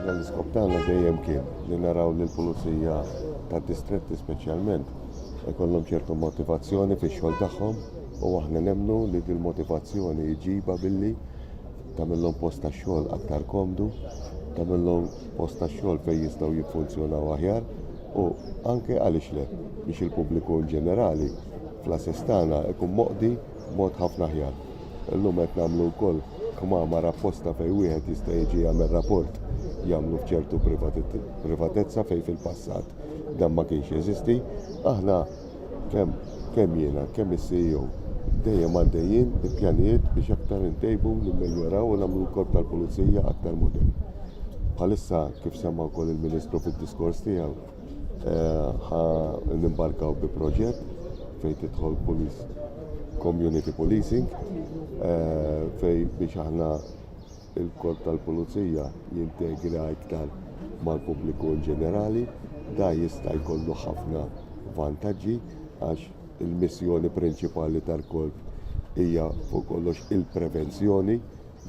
L-iskop tagħna dejjem kien li naraw li l-pulizija tad-distretti speċjalment ikollhom ċertu motivazzjoni fix-xogħol tagħhom u aħna nemmnu li din motivazzjoni jġibha billi tagħmilhom post tax-xogħol aktar komdu, tagħmilhom post tax-xogħol fejn jistgħu jiffunzjonaw aħjar u anke għaliex le biex il-pubbliku ġenerali fl-assess tagħna ikun moqdi mod ħafna aħjar. Illum qed nagħmlu wkoll kmamar apposta fejn wieħed jista' jiġi jagħmel rapport jagħmlu f'ċertu privatezza fejn fil-passat dan ma kienx jeżisti. Aħna kemm kemm jiena, kemm is-CEO, dejjem għaddejjin bi pjanijiet biex aktar intejbu, nimmeljoraw u nagħmlu l-Korp tal-Pulizija aktar modern. Bħalissa kif semma wkoll il-Ministru fid-diskors tiegħu, ħa nimbarkaw bi proġett fejn tidħol police community policing eh, fejn biex aħna il-korp tal-pulizija jintegra iktar mal-pubbliku in ġenerali, da jista' jkollu ħafna vantaġġi għax il-missjoni prinċipali tal-korp hija fuq kollox il-prevenzjoni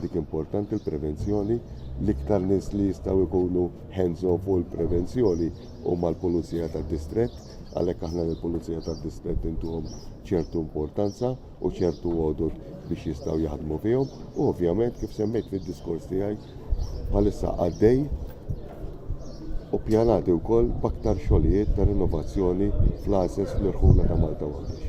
Dik importanti l-prevenzjoni, l-iktar nies li jistgħu jkunu hands on fuq il-prevenzjoni huma l-Pulizija tad-Distrett, għalhekk aħna lill-Pulizija tad-Distrett intuhom ċertu importanza u ċertu għodod biex jistgħu jaħdmu fihom u ovvjament kif semmejt fid-diskors tiegħi bħalissa għaddej u pjanati wkoll b'aktar xogħlijiet ta' rinnovazzjoni fl-għażeż fl-irħula ta' Malta u Għawdex.